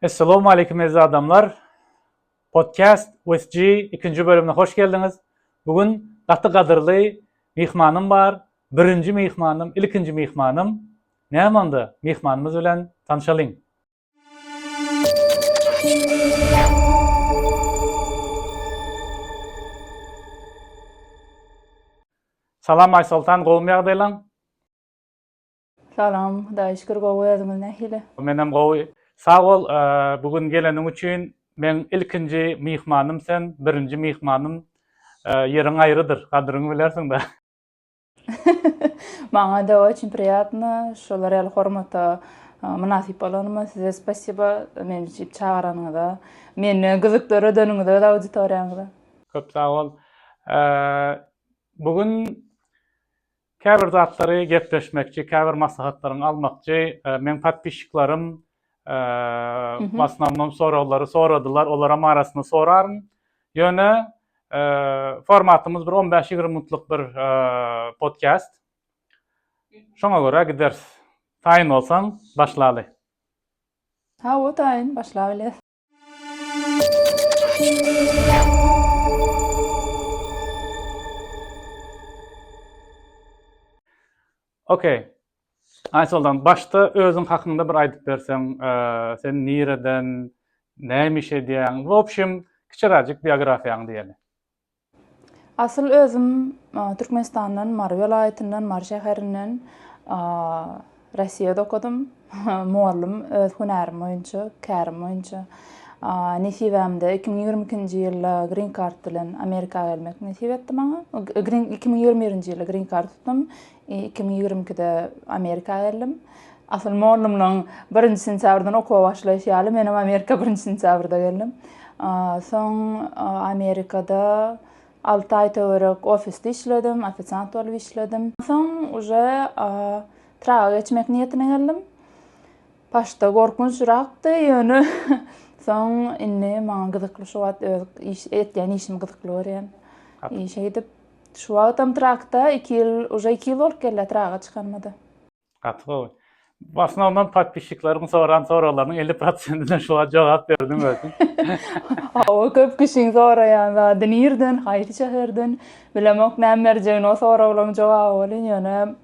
Essalawmaleýkum eziz adamlar! Podcast with G ikinji bölümine hoş geldiňiz. Bu gün gaty gadyrly myhmanym bar. Birinji myhmanym, ilkinji myhmanym. Näme onda, myhmanymyz bilen tanşalyň. Salam Aýsoltan, gowumy ýagdaýlaň? Salam, Hudaýa şükür gowy özüňiz nähili? Menem gowy. Sag bol bu gün geleniň üçin. Meň ilkinji myhmanym sen, birinji myhmanym. Ýeriň aýrydyr, gadyryňy bilersiň-dä. Maňa-da oçin priýatno, şolar ýaly hormata mynasyp bolanyma size spasiba, meni şeýdip çagyranyňyza, meni gyzyk döredeniňize öz auditoriýaňyza. Köp sag bol. Bu gün Käbir zatlary gepleşmekçi käbir maslahatlaryňy almakçy meň podpisçiklerim w asnomnom soraglary soradylar olaram arasynda soraryn ýöne formatymyz bir on bäş ýigrimi minutlyk bir podkast şoňa görä gideris taýyn bolsaň başlaly. Hawa taýyn başlabileris. Okey. Aysoldan, başda özün hakyňda bir aýdyp berseň, e, sen nireden, näme iş edýäň? W opşim, kiçiräjik biografiýaňy diýeli. Asyl özüm Türkmenistandan Mary welaýatyndan Mary şäherinden Rossiýada okadym mugallym öz hünärim boýunça kärim boýunça nesibämde iki müň ýigrimi ikinji ýylda grin kart bilen Amerika gelmek nesip etdi maňa iki müň ýigrimi birinji ýylda grin kart tutdum Iki müň ýigrimi ikide Amerika geldim. Asyl mollumlaň birinji sentýabrdan okuwa başlaýyş ýaly menem Amerika birinji sentýabrda geldim. Soň Amerikada alty aý töwerek ofisde işledim, ofisiant bolup işledim. Soň uje traga geçmek niýetine geldim. Başda gorkunç rakdy, ýöne soň indi maňa gyzykly şu wagt öz iş etýän işimi gyzykly görýän. Işe gidip Şu wagtam trakda iki ýyl uje iki ýyl bolup gelýär traga çykanymada. Gaty gowy. Bu asnownom podpisçikleriň soran soraglarynyň elli prosentine şu wagt jogap berdiň özüň. Hawa köp kişiň soraýan zady nirden haýsy şäherden bilemok näme berjegini o soraglaryň jogaby welin ýöne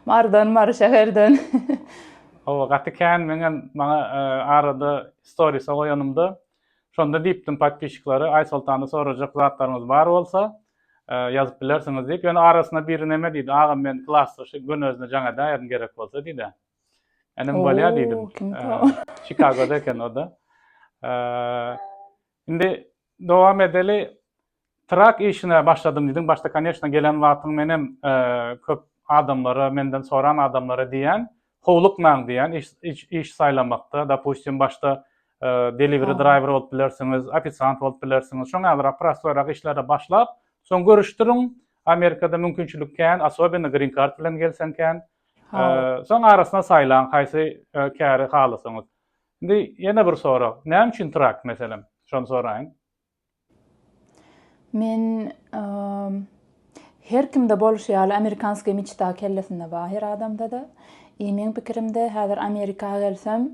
mardan mary şäherden. Hawa gaty kän meňem maňa arada storysa goýanymda Şonda diýipdim podpişikleri Aýsoltanda sorajak zatlaryňyz bar bolsa ýazyp bilersiňiz diýip. Ýöne arasynda biri neme diýdi agam men klasda şu gönezini jaň edäýerin gerek bolsa diýdi. Inim bolýa diýdim. Çikagoda eken o-da. Indi dowam edeli. Trak işine başladym diýdiň, başda koneçna gelen wagtyň menem köp adamlara, menden soran adamlara diýýän, howlukmaň diýýän iş saýlamakda, dopustim başda deliwri draýwer bolup bilersiňiz, ofisiant bolup bilersiňiz, şoňňalyrak prostoýrak işlere başlap, soň görüşdiriň, Amerikada mümkinçilik kän, asobeni grin kart bilen gelseň kän, soň arasyna saýlaň haýsy käri halasaňyz. Indi ýene bir sorag, näme üçin trak meselem, şony soraýyn? Men Her kimde bolşy ýaly amerikanskiý miçta kellesinde bar her adamdada. I meň pikirimde häzir Amerika gelsem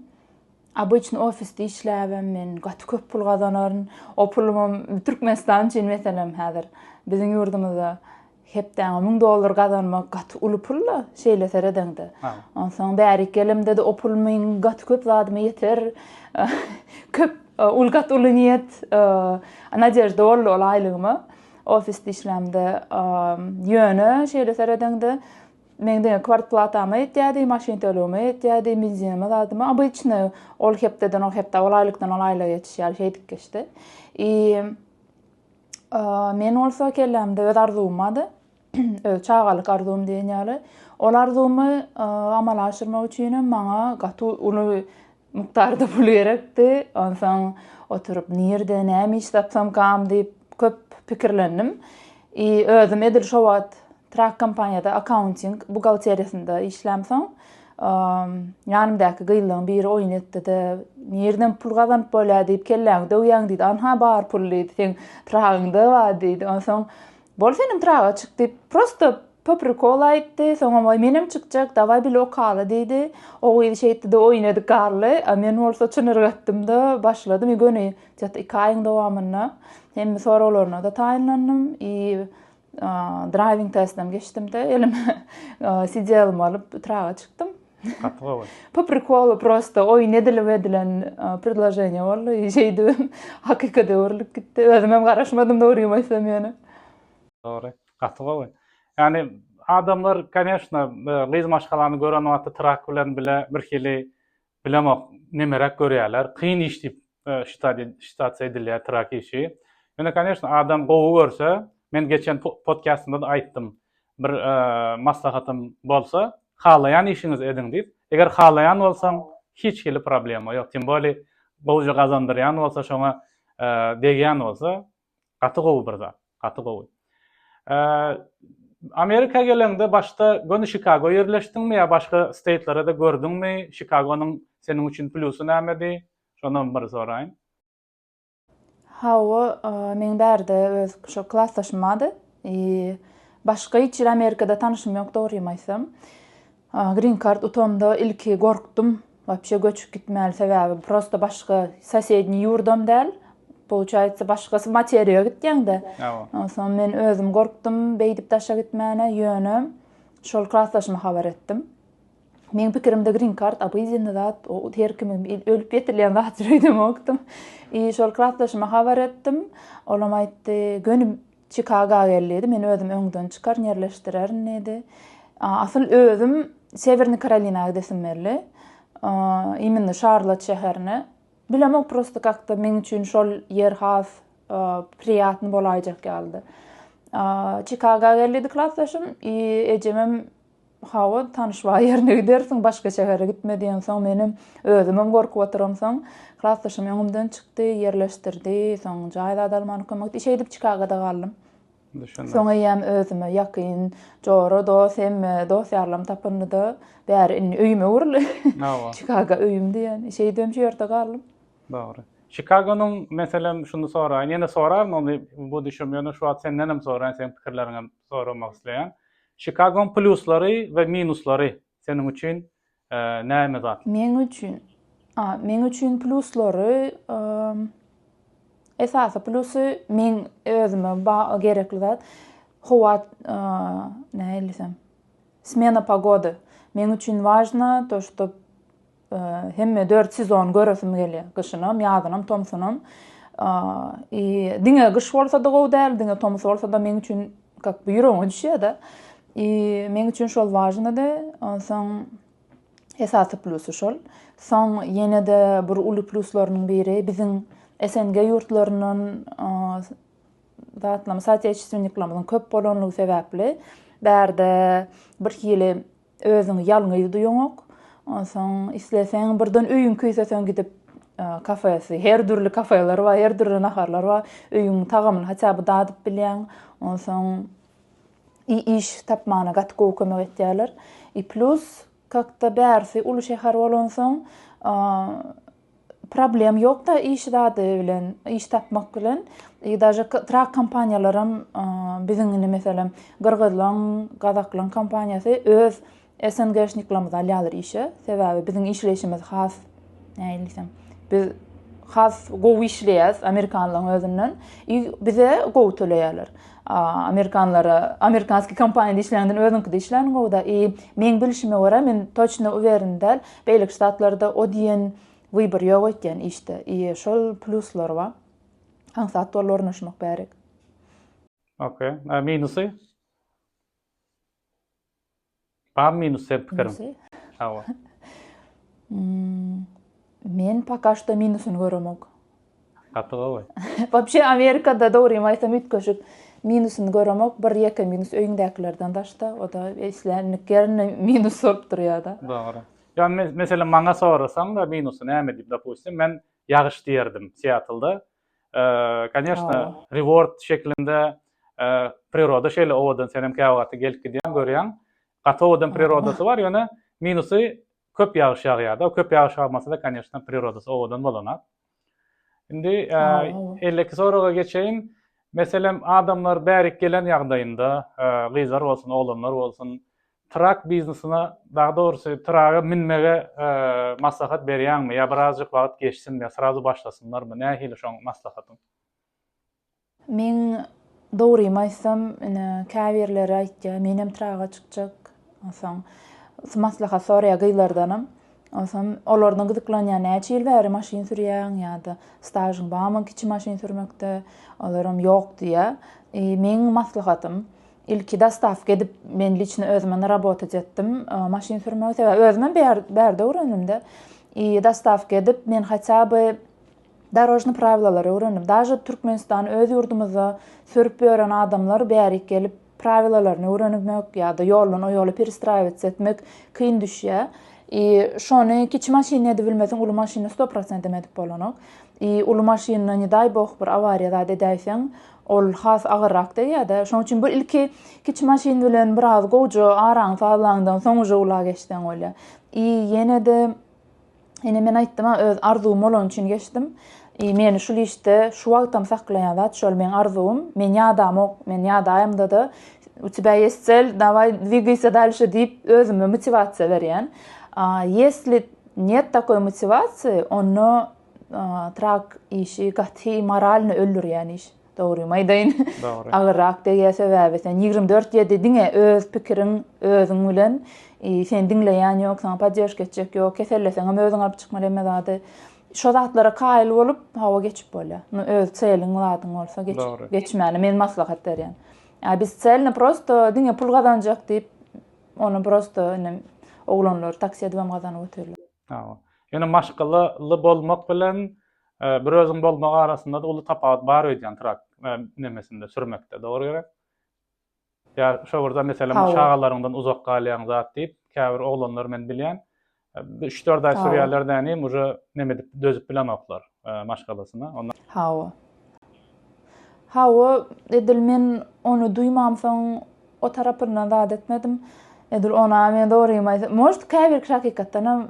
obyçny ofisde işläbem men gaty köp pul gazanaryn. O pulumam Türkmenistan üçin meselem häzir biziň ýurdumyzda Hepdäňe müň dollar gazanmak gaty uly pul-la, şeýle seredeňde. Onsoň bärik gelemde-de o pul meň gaty köp zadyma ýeter. Köp, uly, gaty uly niýet, nadežda boldy ol aýlygyma. Ofisde işlämde. Ýöne, şeýle seredeňde, meň diňe kwartplatama ýetýärdi, maşyn tölegime ýetýärdi, benzinime, zadyma. Obyçny, ol hepdeden ol hepdä, ol aýlykdan ol aýlyga geçiş ýaly şeýdip geçdi. I. Men bolsa kellämde öz arzuwymady, öz çagalyk arzuwym diýen ýaly. Ol arzuwymy amala aşyrmak üçinem maňa gaty uly mukdarda pul gerekdi. Onsoň oturyp nirde, näme iş tapsam kam diýip köp pikirlendim. I özüm edil şo wagt Trak kompaniýada akkaunting buhgalteriýasynda işlämsoň, ýanymdaky gyzlaryň biri oýun etdi-de, Nirden pul gazanyp bolýar diýip kelläňi döwýäň diýdi. Anha bar pul diýdi, seň tragyňda bar diýdi. Onsoň bol senem traga çyk diýip, prosta po prikola aýtdy. Soňam waý menem çykjak, dawaý bile okaly diýdi. O gyz şeýtdi-de oýun edip galdy. A men bolsa çyn yrgatdym-da, başladym i göni iki aýyň dowamynda hemme soraglaryna-da taýynlandym i Driving testden geçdim-de, elime CDL-imi alyp, traga çykdym. Gaty gowy. Po prikolu prosta oýun edilip edilen predloženiýa boldy. Şeýdibim, hakykata öwrülip gitdi. Özüm hem garaşmadym dogrymy aýtsam ýöne. Dogry. Gaty gowy. Ýani adamlar, koneşna, gyz maşgalany gören wagty trak bilen bile birhili Bilemok nemeräk görýärler. Kyn iş diýip şitasiýa edilýär trak işi. Ýöne koneşno adam gowy görse, men geçen podkastymda-da aýtdym. Bir maslahatym bolsa, halaýan işiňizi ediň diýip. Eger halaýan bolsaň, hiç hili problema ýok. Tim boli gowja gazandyrýan bolsa, şoňa degýän bolsa, Gaty gowy bir zat. Gaty gowy. Amerika geleňde başda göni Şikago ýerleşdiňmi ýa başga steýtlere-de gördüňmi? Şikagonyň seniň üçin plýusy nämedi? Şonam bir soraýyn. Hawa, meň bärde öz şo klasdaşym bardy. Başga hiç ýerde Amerikada tanyşym ýok dogrymy aýtsam. Green card utamda ilki gorkdum wapşe göçüp gitmäli sebäbi prosta başga sosedniý ýurdam däl pouçaýtsa başgasy materiýa gitýäňdä onsoň men özüm gorkdum beýdip daşa gitmäne ýöne şol klasdaşyma habar etdim meň pikirimde green card obydenny zat o her kime ölüp getirilýän zatdyr öýdemokdym i şol klasdaşyma habar etdim olam aýtdy göni Çikaga gel diýdi, men özüm öňden çykar, ýerleşdirerin diýdi. Asyl özüm Sewernyý Karolina gidesim geldi. Imminde Şarlott şäherine. Bilemok prosto kakda meň üçin şol ýer has priýatny bolaýjak ýalydy. Çikaga gel diýdi klasdaşym i ejemem Hawa, tanyş bar ýerine gidersiň, başga şähere gitme diýensoň, menem özümem gorkup oturamsoň, klasdaşym öňümden çykdy, ýerleşdirdi, soň jaý zady almana kömek etdi. Şeýdip Çikagoda galdym. Soň eýýäm özüme ýakyn jora, dost, hemme dost-ýarlarymy tapanda, bäri indi öýüme öwrüldi. Çikago öýümdi ýani. Şeýdibem şu ýerde galdym. Dogry. Çikagonyň, meselem, şuny soraýyn, ýene soraryn ony, bu düşem, ýöne şu wagt sendenem soraýyn, seniň pikirleriňem soramak isleýän. Şikagoň plýuslary we minuslary seniň üçin näme zat? Meň üçin, a, meň üçin plýuslary, esasy plýusy meň özüme gerekli zat, howa, nähili diýsem, smena pogody. Meň üçin wažna to, što Hemme dört sezon göresim gelýär. Gyşynam, ýazynam, tomsunam. I diňe gyş bolsa-da gowy däl, diňe tomus bolsa-da meň üçin kak bu ýüregiňe düşýär-de. I meň üçin şol wažnydy. Onsoň esasy plusy şol. Soň ýene-de bir uly pluslarynyň biri biziň SNG ýurtlaryndan zatlaryň, soatýeçestwenniklerimiziň köp bolanlygy sebäpli bärde birhili Özüňi ýalňyz duýuňok. Onsoň isleseň birden öýüň küýseseň gidip kafesi, her dürli kafeler bar, her dürli naharlar bar. Öýüň tagamyny haçan bir dadyp bilýäň. Onsoň i iş tapmana gaty gowy kömek etýärler. I plus kakda bärsi uly şäher bolansoň Problem ýokda iş zady bilen, iş tapmak bilen. I daže trak kompaniýalaram biziň indi meselem gyrgyzlaň, gazaklaň kompaniýasy öz SNGşniklerimizi alýarlar işe. Sebäbi biziň işleýşimiz has nähili diýsem, biz has gowy işleýäs amerikanlaň özünden. I bize gowy töleýärler. Amerikanlara, amerikanskiý kompaniýada işlänimden özüňkide işlänim gowuda. I meň bilişime görä, men toçno uweren däl, Beýleki ştatlarda o diýen wybor ýok öýtýän işde i şol pluslar ba aňsat bol ornaşmak bärek. Ok. A minusy? Barmy minus sen pikirin? Minusy? Hawa. Men poka şda minusyny göremok. Gaty gowy. Wapşe Amerikada dogrymy aýtsam üýtgeşik minusyny göremok, bir ýeke minus öýüňdäkilerden daşda, o da islendik ýerinde minus bolup durýada. Dogry. Ýa meselem maňa sorasaňda minusy näme diýip dopustim men ýagyş diýerdim Siatlda. Kanyeshna reward şeklinde priroda şeýle owadan senem käwagty gelip gidýäň görýäň. Gaty owadan prirodasy bar ýöne minusy Köp ýagyş ýagýarda, köp ýagyş ýagmasada koneşna prirodasy owadan bolanok. Indi elleki soraga geçeýin. Meselem adamlar bärik gelen ýagdaýynda, gyzlar bolsun, oglanlar bolsun, trak biznesine, dagy dogrusy traga münmege maslahat berýäňmi ýa birazjyk wagt geçsin we srazu başlasynlarmy, nähili şoň maslahatyň? Men dogrymy aýtsam, ine, käbirleri aýtýar, menem traga çykjak, onsoň maslahat soraýar gyzlardanam. Onsoň olardan gyzyklanýar, näçe ýyl bäri maşyn sürýäň ýa-da stažyň barmy kiçi maşyn sürmekde? Olaram ýok diýýär. I, meň maslahatym, ilki dostawka edip, men liçno özümem rabotat etdim, maşyn sürmegi, sebäbi özümem bärde öwrendim-dä. I, dostawka edip, men hatýa by Darožny prawilalary öwrendim. Daže Türkmenistan öz ýurdumyzda sürüp ýören adamlar bärik gelip prawilalaryny öwrenmek ýa-da ýoldan o ýola perestraiwats etmek kyn düşýä. I şony kiçi maşynda edip bilmesiň uly maşynda sto prosentam edip bolanok. I uly maşynda ne daý boh bir awariýa zat edäýseň ol has agyrrak degýädä. Şoň üçin bir ilki kiçi maşyn bilen biraz gowja araňy sazlaňdan soň uje ula geçseň bolýa. I ýenede Ine men aýtdym-a öz arzuwym bolany üçin geçdim. I meni şul işde şu wagtam saklaýan zat şol meň arzuwym. Men ýadamok, men ýadaýamda-da u tebä ýest cel, daway dwigaýsa dalşe diýip özüme motiwasiýa berýän. A ýesli nýet takoý motiwasiýy onda trak işi gaty moralny öldürýän iş. Dogrymy aýdaýyn. Dogry. Agyrrak degýär sebäbi sen ýigrimi dört ýedi diňe öz pikiriň özüň bilen e, sen diňleýän ýok, saňa poddežka etjek ýok, keselleseň hem özüň alyp çykmaly hemme zady. Şo zatlara kaýyl bolup hawa geçip bolýar. Muny öz çeliň zadyň bolsa geç, geçmäni men maslahat berýän. Ýa biz çelni prosto diňe pul gazanjak diýip, ony prosto indi oglanlar taksi edip hem gazanyp oturýar. Hawa. Ýöne maşgalaly bolmak bilen Bir özüň bolmak arasynda-da uly tapawut bar öýdýän trak nemesinde, sürmekde, dogry gerek? Ýa şo bir zat, meselem, şagalaryňdan uzak galýaň zat diýip, käbir oglanlar men bilýän, üç-dört aý sürýärler dänim, uje neme edip, dözüp bilenoklar maşgalasyna. Onda. Hawa. Hawa, edil men ony duýmamsoň, o tarapyndan zat etmedim. Edil ony-a men dogrymy aýtsam, может, käbirki hakykatdanam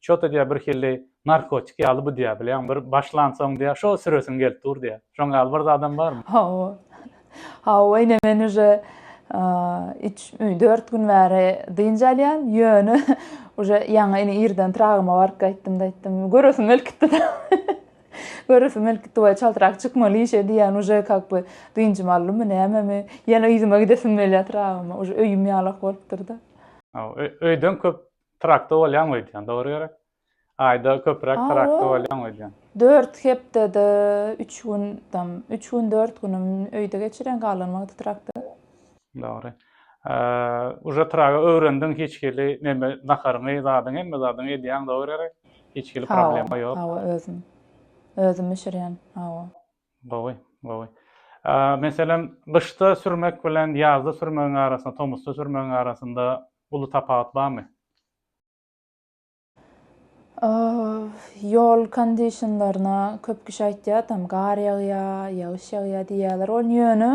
Çota diýýär, birhili narkotik ýaly bu diýýär, bilýäňmi, bir başlansoň diýýär, şo süresiň gelip dur diýýär. Şoň ýaly bir zadam barmy? Hawa. Hawa, ine men uje üç, dört gün bäri dynç alýan, ýöne uje ýaňy ine irden Tragyma baryp gaýtdym-da aýtdym, göresim gelip gitdi-de. Göresim gelip gitdi, waý çaltrak çykmaly işe diýýän, uje kak by dynjymy aldymy, nämemi, ýene yzyma gidesim gelýär Tragyma, uje öýüm ýalak bolupdyr-da. Hawa, öýden köp Trakda bolýaňmy öýdýän, dogry gerek? Aýda köpüräk A, trakda ol bolýaňmy öýdýän? Dört hepdede üç gün tam, üç gün, dört günüm öýde geçirýän, galan wagty trakda. Dogry. Uje traga öwrendiň, hiç hili neme, naharyňy, zadyňy, hemme zadyňy edýäň, dogry gerek? Hiç hili problema ýok. Hawa, hawa, özüm. Özüm bişirýän, hawa. Gowy, gowy. Meselem, gyşda sürmek bilen ýazda sürmegiň arasynda, tomusda sürmegiň arasynda uly tapawut barmy? Ýol kondişinlerine köp kişi aýtýar, tam gar ýagýar, ýagyş ýagýar diýýärler. Ol ýöne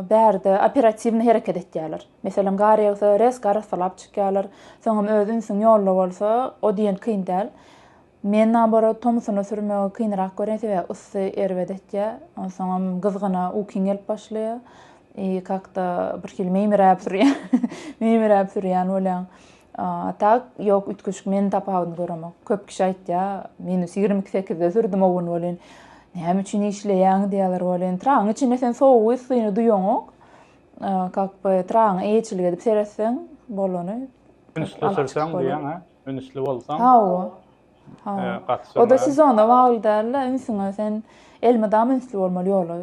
bärde operatiwny hereket etýärler. Meselem, gar ýagsa, rezk arassalap çykýarlar. Soňam öz ünsüň ýolda bolsa, o diýen kyn däl. Men naborot tomsuna sürmegi kynrak görýän sebäbi yssy erbet etýä onsoňam gyzgyna ukyň gelip başlaýa i kakda birhili meýmiräp sürýän meýmiräp sürýän bolýaň a tak ýok üýtgeşik men tapawudyny göremok köp kişi aýtýa minus ýigrimi iki sekizde sürdüm owun welin näme üçin işleýäň diýýäler welin tragyň içinde sen sowugy yssyny duýaňok a kak by tragyňa eýeçilik edip seretseň bolany Ünsli sürseň diýýäň a. Ünsli bolsaň. Hawa. Hawa. Oda sezona bagly dälde, ünsüňe sen elmydama ünsli bolmaly ýola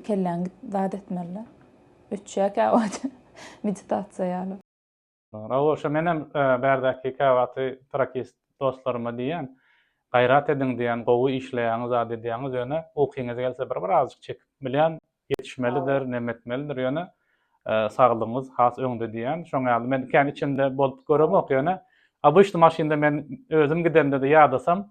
kelläň zat etmelide. Öçýä käwagt meditasiýa ýaly. Ragoşa menem bärdäki käwagty trakist dostlaryma diýýän, gaýrat ediň diýýän gowy işleýäňiz zat edýäňiz ýöne ukyňyz gelse bir birazjyk çekip bilýän Ýetişmelidir, nemetmelidir, ýöne saglygyňyz has öňde diýýän. Şoň ýaly men kän içinde bolup göremok, ýöne obyçny maşynda men özüm gidemde-de ýadasam,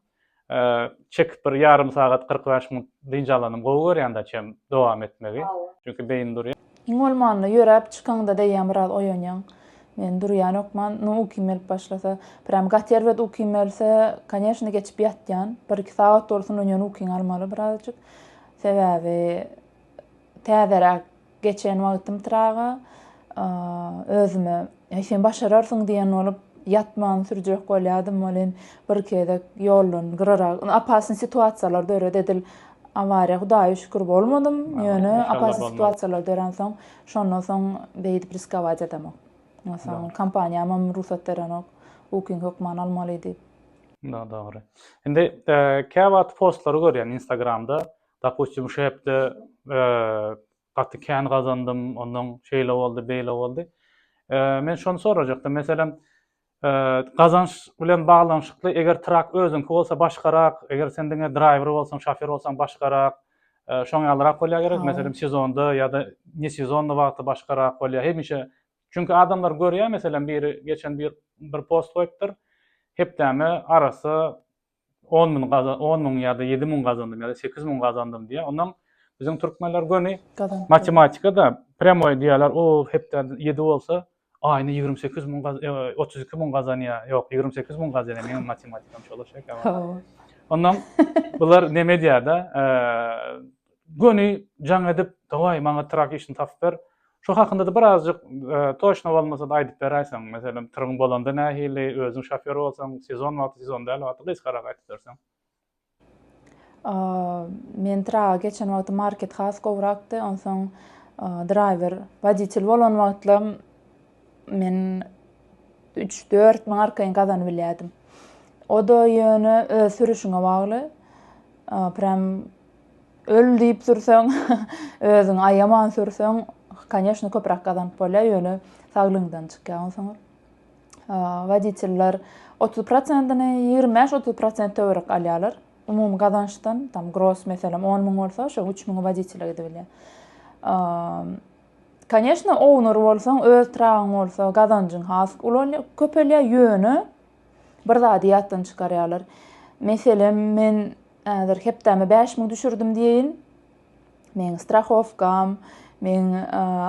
çekip bir ýarym sagat, kyrk bäş minut dynç alanym gowy görýän daçy hem dowam etmegi. Çünki beýin durýar. Iň bolmanda ýöräp çykaňda däýýän biraz oýanýaň. Men durýanokman, nu ukym gelip başlasa. Prýam gaty erbet ukym gelse, koneşne geçip ýatýan. Bir-iki sagat bolsun onýan ukyňy almaly birazajyk. Sebäbi täzeräk geçen wagtym traga özüme Heý sen başararsyň diýen bolup ýatman sürjek bolýadym welin bir gezek ýoldan gyrarak apasny situasiýalar döret edil awariýa hudaýa şükür bolmadym ýöne apasny situasiýalar döransoň şondan soň beýdip riskować edemok. Onsoň kompaniýamam rugsat berenok ukyň hökman almaly diýip. Mundan dogry. Indi käwagt postlary görýän instagramda, dopustim şu hepde gaty kän gazandym, ondan şeýle boldy, beýle boldy. Men şony sorajakdym, meselem, gazanç bilen baglanyşykly eger trak özüňki bolsa başgarak, eger sen diňe draýwer bolsaň, şofer bolsaň başgarak, şoň ýalyrak bolýar gerek, meselem, sezonda ýa-da ne sezonda wagty başgarak bolýar, hemişe Çünki adamlar görýär meselem biri geçen bir bir post goýupdyr hepdäme arassa on müň on müň ýa-da ýedi müň gazandym ýa-da sekiz müň gazandym diýýär ondan biziň türkmenler göni matematikada prýamoý diýýärler o hepde ýedi bolsa aýyna ýigrimi sekiz müň otuz iki müň gazanýar ýok ýigrimi sekiz müň gazanýar meniň matematikam şolaşa eken ondan bular neme edýärde göni jaň edip daway maňa trak işini tapyp ber Şo hakynda-da bir azjyk toçno bolmasa-da aýdyp beräýseň, meselem, tyryň bolanda nähili, özüň şofýor bolsaň, sezon wagty, sezon däl wagty gysgarak aýdyp berseň. Men tyraga geçen wagty market has gowrakdy, onsoň draýwer, woditel bolan wagtlam men üç-dört müň arkaýyn gazanybilýärdim. O-da ýöne öz sürüşiňe bagly. Prem Öl diýip sürseň, özüňi aýaman sürseň, koneşno köpräk gazanyp bolýar, ýöne saglygyňdan çykýar onsoň. Woditiller otuz prosentini, ýigrimi bäş, otuz prosent töwerek alýarlar. Umumy gazançdan, tam gross meselem on müň bolsa, şo üç müňi woditele gidibilýär. Koneşno, owner bolsaň, öz tragyň bolsa, gazanjyň has köpelýär, ýöne bir zady ýatdan çykarýarlar. Meselem, men häzir hepdäme bäş müň düşürdim diýeýin. Meň strahowkam, meň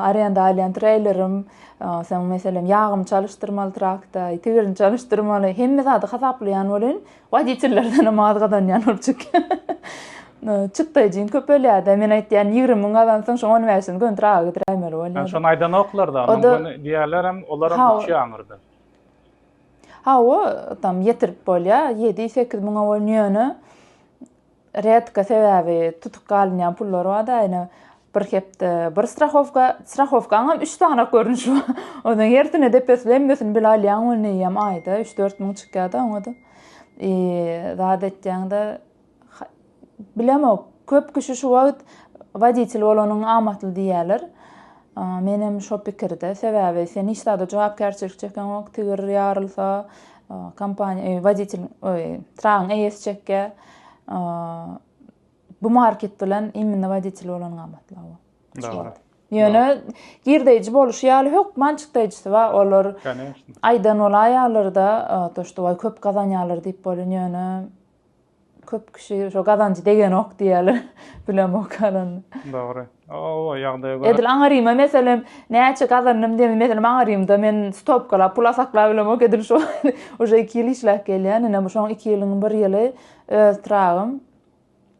arenda alýan treýlerim, soň meselem ýagymy çalyşdyrmaly trakta, tigilini çalyşdyrmaly, hemme zady hasaplaýan welin, woditellerdenem az gazanýan bolup çykýan. Çykdajyň köpelýär-de, men aýtýan ýigrimi müň gazansaň, şoň on bäşini göni traga gidiräýmeli bolýar. Şony aýdanoklar-da, onuň göni diýýärlerem, olaram uçýar aňyrda. Hawa, tam ýetirip bolýar, ýedi-sekiz müňe bolýar, ýöne redka, sebäbi tutuk galynýan pullar bar-da, ýöne bir hepde bir strahowka, strahowkaňam üç sany görnüşi bar. Onuň hersine depesine hemmesini bile alýaň welin eýýäm aýda üç-dört müň çykýar-da oňa-da. Zat etýäň-de, Bilemok, köp kişi şu wagt woditel bolanyň amatly diýýärler. Men hem şo pikirde. Sebäbi sen hiç zada jogapkärçilik çekeňok, tigir ýarylsa, kompaniýa, e, woditel, oý, tragyň eýesi çekýä. Bu market bilen imminne woditel bolanyň amatly awa. Dogry. Ýöne girdeýji boluşy ýaly hökman çykdaýjysy bar. Olar aýdan bolaýarlar-da, to, şto, köp gazanýarlar diýip bolýar, ýöne Köp kişi şo gazanjy degenok diýýärler. Bilemok galan. Dogry. O ýagdaýa görä. Edil aňyrýyma meselem näçe gazandym diýende meselem aňyrýymda men stopkalap pul asaklap bilemok edil şo uje iki ýyl işläp gelýän ine bu şoň iki ýylyň bir ýyly öz tragym.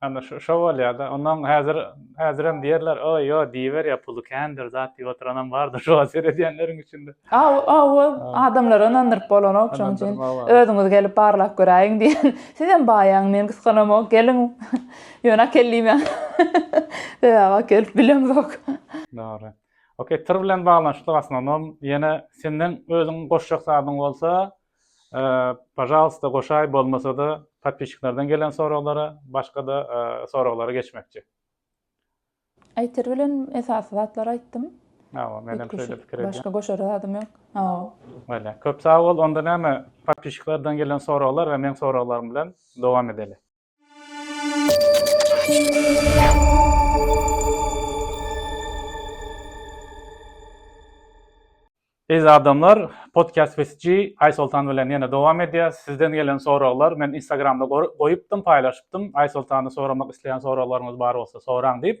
Ana şo bolýada onuň häzir häzirem diýerler oý ýo diýiberýär puly kändir zat diýip oturanam bardyr şoňa seredýänleriň içinde. Hawa adamlary ynandyryp bolanok şoň üçin özüňiz gelip barlap göräýiň diýen sizem baýaň men gysganamok geliň ýöne akel diýmäň sebäbi akel bilemzok. Dogry. Ok tir bilen baglanyşykly gastronom ýene senden özüň goşjak zadyň bolsa Pažalsta goşaý bolmasada podpisçiklerden gelen soraglara başgada soraglara geçmekçi. Aýter bilen esasy zatlary aýtdym. Hawa menem şeýle pikir edýän. Başga goşara zadym ýok. Hawa. Bolýa. Köp sag bol onda näme podpisçiklerden gelen soraglar we meň soraglarym bilen dowam edeli. Eziz adamlar, podcast with G, Aýsoltan bilen ýene dowam edýär. Sizden gelen soraglar men Instagramda goýupdym, paýlaşypdym. Aýsoltany soramak isleýän soraglaryňyz bar bolsa soraň diýip.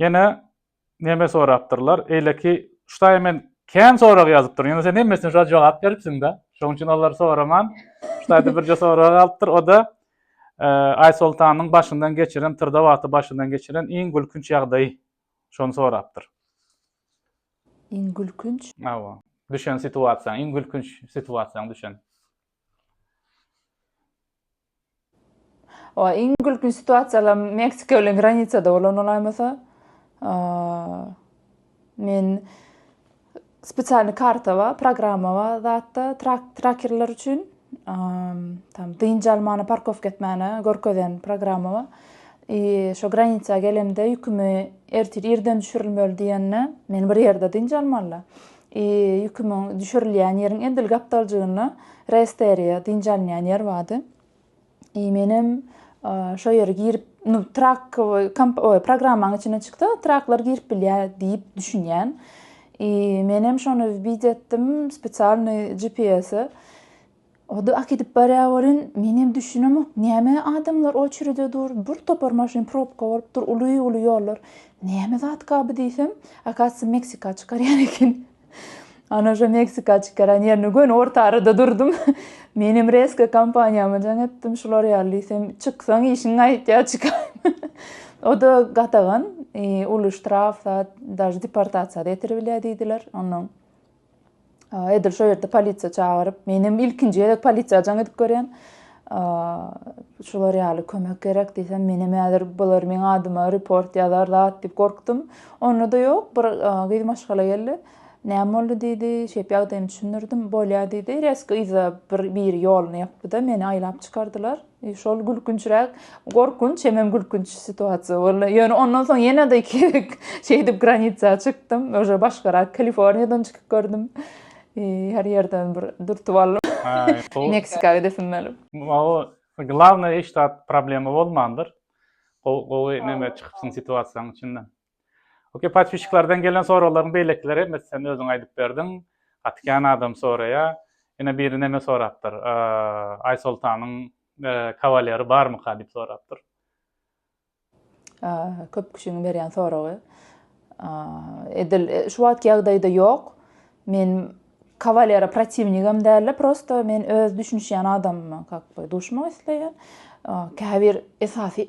Ýene neme sorapdyrlar, eýleki şutaýy men kän sorag ýazypdyryn, ýöne sen hemmesine şa jogap beripsiň-dä, şonuň üçin olary soraman, şutaýda birje sorag galypdyr, o-da Aýsoltanyň başyndan geçiren, tyrda wagty başyndan geçiren iň gülkünç ýagdaýy, şony sorapdyr. Iň gülkünç? Hawa, düşen situasiýaň, iň gülkünç situasiýaň düşen. Oa iň gülkünç situasiýalar Meksika bilen granisada bolan olaýmasa. Men spesialny karta bar, programma bar zatda trak trakerler üçin. Tam dynç almana, parkowka etmäne görkezen programma bar. I şo granisa gelemde ýükümi ertir irden düşürilmeli diýende, men bir ýerde dynç almalyda. Ýükümiň düşürilýän ýeriň edil gapdaljygynda resteriýa, dynç alynýan ýer bardy. I menem şo ýere girip, nu trak programmaň içine çyksa, traklar girip bilýär diýip düşünýän. I menem şony wbid etdim spesialnyý GPS-e. Ody akidip barýa welin, menem düşünemok, näme adamlar oçerede dur, bir topar maşyn probka bolup dur, uly-uly ýollar. Näme zatkaby diýsem, akasy Meksika çykarýan eken. Ana şo Meksika çykaran ýerine göni orta arada durdum. Menem rezko kompaniýama jaň etdim, şular ýaly diýsem, çyksaň işiň gaýtýar, çykaýma. Oda gadagan, uly ştraf zat, daže deportasiýa-da ýetiribilýär diýdiler. Onnoň Edil şo ýerde polisiýa çagyryp, menem ilkinji gezek polisiýa jaň edip görýän. Şular ýaly kömek gerek diýsem, menem häzir bular meň adyma report ýazar zat diýip gorkdum. Onda-da ýok, bir gyz maşgala geldi. Näme boldy diýdi, şeýp ýagdaýymy düşündirdim. Bolýa diýdi, reski yza bir biri ýoluny ýapdy-da, meni aýlap çykardylar. E, şol gülkünçräk, gorkunç, hemem gülkünç situasiýa boldy. Ýöne ondan soň ýene-de iki şeýdip granitsa çykdym. Oje başgarak Kaliforniýadan çykyp gördüm. E, her ýerden bir dürtüp aldym. Meksika gidesim gelip. Mawy, glawnaý iş zat problema bolmandyr. Gowy, gowy neme çykypsyň situasiýanyň içinden. Okey podpisçiklerden gelen soraglaryň beýlekileri hemmesi sen özüň aýdyp berdiň. Gaty kän adam soraýa. Ýene biri neme sorapdyr. Aýsoltanyň kawaleri barmyka diýip sorapdyr. Köp kişiň berýän soragy. Edil şu wagtky ýagdaýda ýok. Men kawalere protiwnigem dälde, prosto men öz düşünişýän adamyma kak duşmak isleýän. Käbir esasy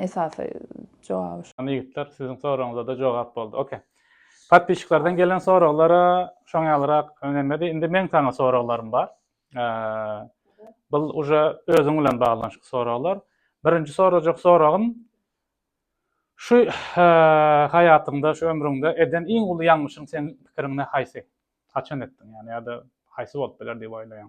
esasy jogaby şu. Hany ýigitler siziň soragyňyzada jogap boldy ok. Podpisçiklerden gelen soraglara şoň ýalyrak öňemedi indi meň saňa soraglarym bar bul uje özüň bilen baglanyşykly soraglar birinji sorajak soragym şu haýatyňda şu ömrüňde eden iň uly ýalňyşyň seň pikiriňde haýsy haçan etdiň ýani ýada haýsy bolup biler diýip oýlaýaň.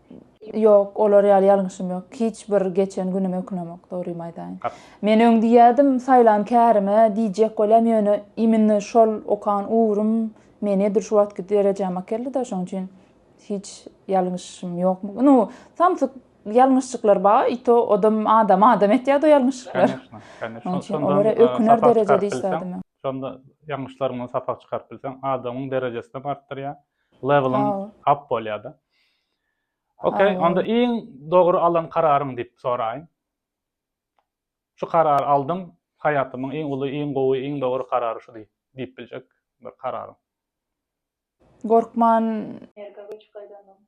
Ýok, olar ýaly ýalňyşym ýok. Hiç bir geçen günüme ökünemok, dogrymy aýdaýyn. Men öň diýýärdim, saýlan kärime diýjek bolýan, ýöne immine şol okan ugrum meni edil şu wagtky derejäme akeldi-de, şonuň üçin hiç ýalňyşym ýok. Nu, samsyk ýalňyşjyklar ba, i to odam adamy adam etýärdi o ýalňyşjyklar. Onuň üçin olara öküner derejede işlädim men. Şonda ýalňyşlarymdan sapak çykaryp bilseň, adamyň derejesinem artdyrýar, Leveling up bolýada. Okey, onda iň dogry alan kararyň diýip soraýyn. Şu karary aldym, haýatymyň iň uly, iň gowy, iň dogry karary şu diýip biljek bir kararyň. Gorkman. Amerika göçüp gaýdansoň,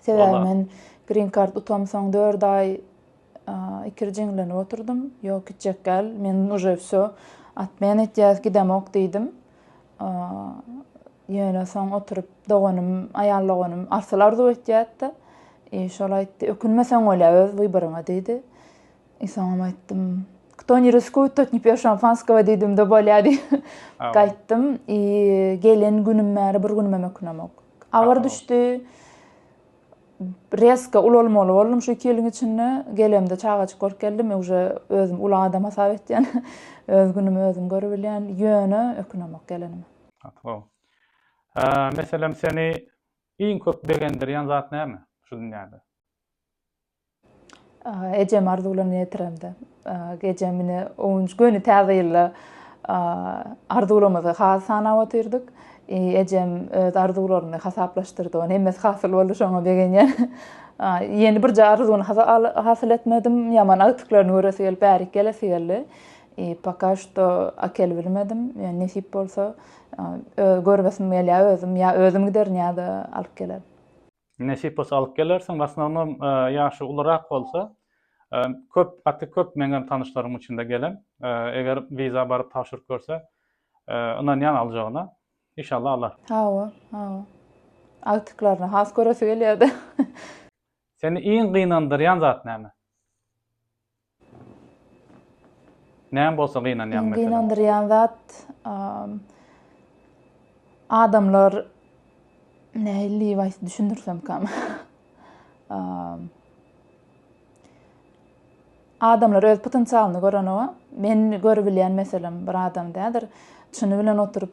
Sebäbi men Green Card utamsoň dört aý ikir jiňlenip oturdym. Ýok gitjek däl, men uje wsё, atmen etýäs, gidemok diýdim. Ýöne soň oturyp doganym, aýal doganym Arsyl arzuw etýätdi. I şol aýtdy, ökünmeseň bolýa öz wyboryňa diýdi. I soňam aýtdym, kto ne riskuyt, tot ne pije şampanskowa diýdimde bolýa diýip gaýtdym. I gelen günüm bäri bir günümem ökünemok. Agyr düşdi. Reska ulalmaly boldum şu iki ýylyň içinde. Gelemde çagajyk bolup geldim. Öwje özüm uly adam hasap etýän. Öz günümi özüm görübilýän. Ýöne ökünemok gelenime. Sag bol. Meselem seni iň köp begendirýän zat näme şu dünýäde? Ejem arzuwlaryny ýetiremde. Ejem mine öňüji göni täze ýylda arzuwlarymyzy has sanap otyrdyk. Ejem öz arzuwlaryny hasaplaşdyrdy. Ony hemmesi hasyl boldy, şoňa begenýän. Ýeni birje arzuwyny hasyl etmedim. Ýaman agtyklaryny göresi gelip, bärik gelesi geldi. Poka şto akel bilmedim. Ýöne nesip bolsa, göresim gelýär özüm. Ýa özüm giderin ýa-da alyp gelerin. Nesip bolsa alyp gelersiň. Wasnownom ýaşy ulurak bolsa köp gaty köp meňem tanyşlarym içinde gelen. Eger wiza baryp tabşyryp görse ynanýan aljagyna. Işallah alar. Hawa hawa. Agtyklaryny has göresi gelýärde. Seni iň gynandyrýan zat näme? Näme bolsa gynanýaň meselem? Gynandyrýan zat adamlar nähili waýs düşündirsem kam. Adamlar öz potensialyny görenoga, men görübilýän meselem bir adam dädir. Çyny bilen oturyp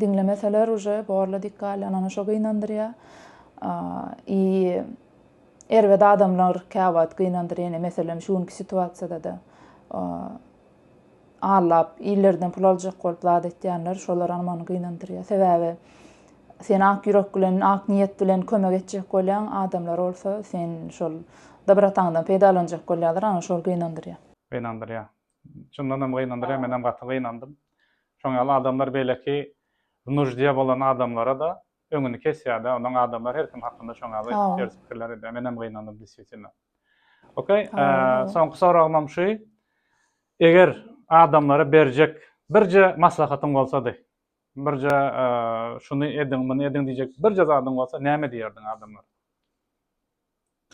Diňlemeseler uje borla dik galýan ana şo gynandyrýa i erbet adamlar käwagt gynandyr ýene meselem şu günki situasiýadada allap illerden pul aljak bolup zat etýänler şolar amany gynandyrýa sebäbi sen ak ýürek bilen ak niýet bilen kömek etjek bolýaň adamlar bolsa sen şol dobrataňdan peýdalanjak bolýalar ana şol gynandyrýa. Gynandyrýa. Çyndanam gynandyrýar menem gaty gynandym. Şoň ýaly adamlar beýleki nuždýa bolan adamlarada öňüni kesýärda onuň adamlar her kim hakynda şoň ýaly ters pikirler edýär menem gynandym deswitino. Ok soňky soragymam şu eger adamlara berjek birje maslahatyň bolsady birje şuny ediň muny ediň diýjek birje zadyň bolsa näme diýerdiň adamlara?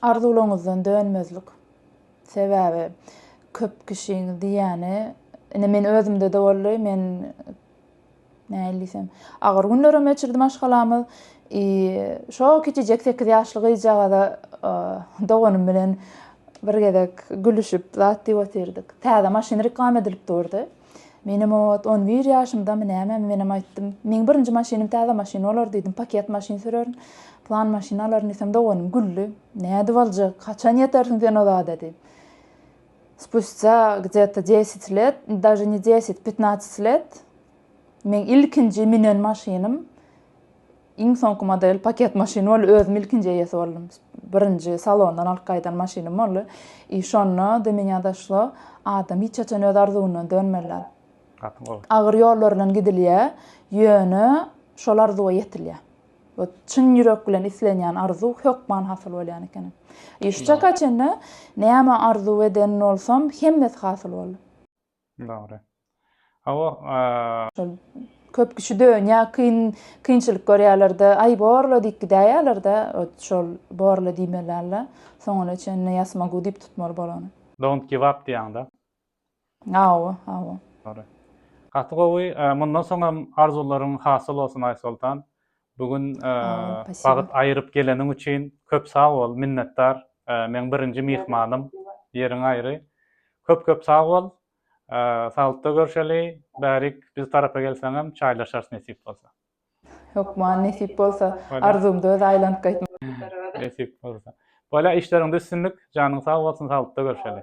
Arzuwlaryňyzdan dönmezlik. Sebäbi köp kişiň diýýäni, ine men özümde-de boldy, men nähili diýsem, agyr günlerem geçirdi maşgalamyz. I şo kiçijek sekiz ýaşly gyzjagaza doganym bilen bir gezek gülüşip zat diýip otyrdyk. Täze maşyn reklama edilip durdy. Menem ot, on bir ýaşymdamy nämemi menem aýtdym. Meň birinji maşynym täze maşyn bolar diýdim, paket maşyn sürerin, plan maşyn alaryn diýsem, doganym güldi. Nädip aljak, haçan ýetersiň sen o zada diýip. Spustýa gde-to desять let, daže ne desять, petnaçet let, meň ilkinji münen maşynym, Iň soňky model paket maşyn boldy. Özüm ilkinji eýesi boldum. Birinji salondan alyp gaýdan maşynym boldy. I şonda do meňa doşlo, adam hiç haçan öz arzuwyndan dönmelidir. Gaty gowy. Agyr ýollar bilen gidilýär, ýöne şol arzuwa ýetilýär. We çyn ýürek bilen islenýän arzuw hökman hasyl bolýan ekeni. I şu çaka çenli näme arzuw eden bolsam, hemmesi hasyl boldy. Dogry. Hawa. Köp kişi dönýär, kyn, kynçylyk görýärler-de, aý borla diýip gidäýýärler-de, öt şol borla diýmeli alla, soňuna çenli ýasmagu diýip tutmaly bolany. Don't give up diýýäň-de. Hawa, hawa. Dogry. Gaty gowy. Mundan soň hem arzuwlaryň hasyl bolsun Aýsoltan. Bu gün wagt aýyryp geleniň üçin köp sag bol, minnetdar. Meň birinji myhmanym, ýeriň aýry. Köp köp sag bol. Saglykda görşeli, bärik biz tarapa gelseňem çaýlaşarys nesip bolsa. Hökman nesip bolsa, arzumda öz aýlanyp gaýtmak. Nesip bolsa. Bolýa işleriňde üstünlik, janyň sag bolsun, saglykda görşeli.